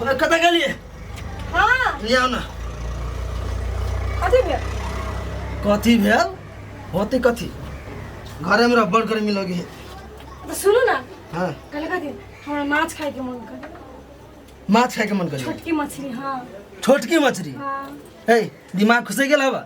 कतऽ गेलियै हाँ ले आउ ने कथी भेल कथी भेल होती कथी घरे में रब्बड़ गर्मी लगे है तो सुनू ना हाँ कल कथी हमरा माछ खाए के मन कर माछ खाए के मन करी छोटकी मछली हाँ छोटकी मछली हाँ ए दिमाग खुसे गेल हवा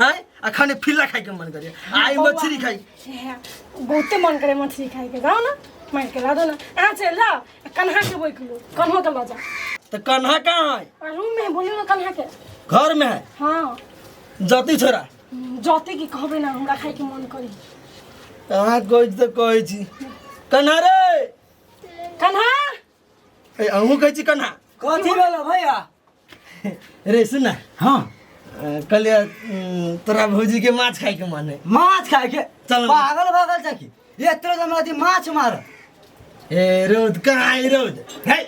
हैं आ खाने फिल्ला खाए के मन करे आई बौआ। मछली खाई हे, बहुते मन करे मछली खाए के जाओ ना मार के ला दो ना आ चल ला कन्हा के बोल लो कन्हो के ला जा तो कन्हा कहाँ है और रूम में बोलियो ना कन्हा के घर में है हाँ जती छोरा जते की कहबे ना हमरा खाए के मन करी कहाँ कोई तो कोई छी कन्हा रे कन्हा ए अहू कहै छी कन्हा कथी भेलो भैया रे सुन ना हाँ कहलिए उम, तोरा भौजी के माछ खाए के मन है माछ खाए के चल। पागल भागल छै कि एतरो जे हमरा अथी माछ मार ए रौद कहाँ है रौद है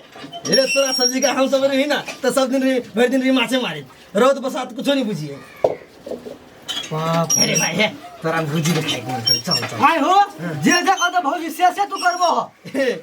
रे तोरा सब्जी का हम सब रही ना तो सब दिन रही भरि दिन रही माछे मारी रौद बसात कुछो नहीं बुझिए बाप अरे भाई है तोरा भौजी के खाए के मन करे चल चल आय हो जे जे कत भौजी से से तू करबो हो ए,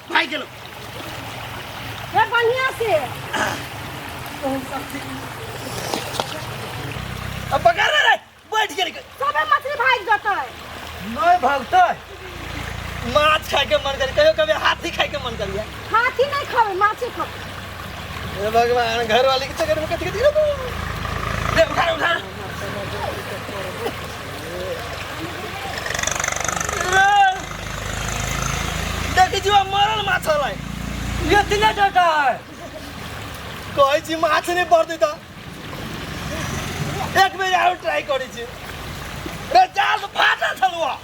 भाग गेलो ए बढ़िया से अब पकड़ ले रे बैठ गेल के। सबे मछली भाग जाता है नहीं भागते माछ खाए के मन करे कहियो कभी हाथी खाए के मन करिया हाथी नहीं खावे माछे खावे हे भगवान घर वाले के चक्कर में कथी कथी रहबो ले उठा रे, उठा रे, देखी जीवा मरल माछा लाई ये तिने डाटा है कहै छी माछ नहि पड़तै तऽ एक बेर आरो ट्राई करै छी रे जाल फाटल छलुआ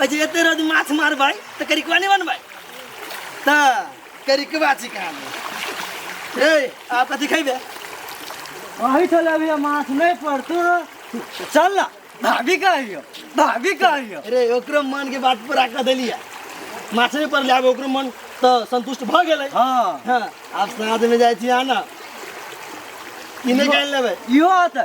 अच्छा एते रोज माछ मारबै तऽ करिकवा नहि बनबै तऽ करिकवा छिका रे आ कथी खैबे वही चल अभी माछ नहीं पड़तो चल ना भाभी कहियो भाभी कहियो रे ओकरो मन के बात पूरा कर देलिए माछ नहि पड़लै आब ओकरो मन तऽ संतुष्ट भऽ गेलै हाँ हाँ आब साँझमे जाइ छी अहाँ ने किने के आनि लेबै इहो आते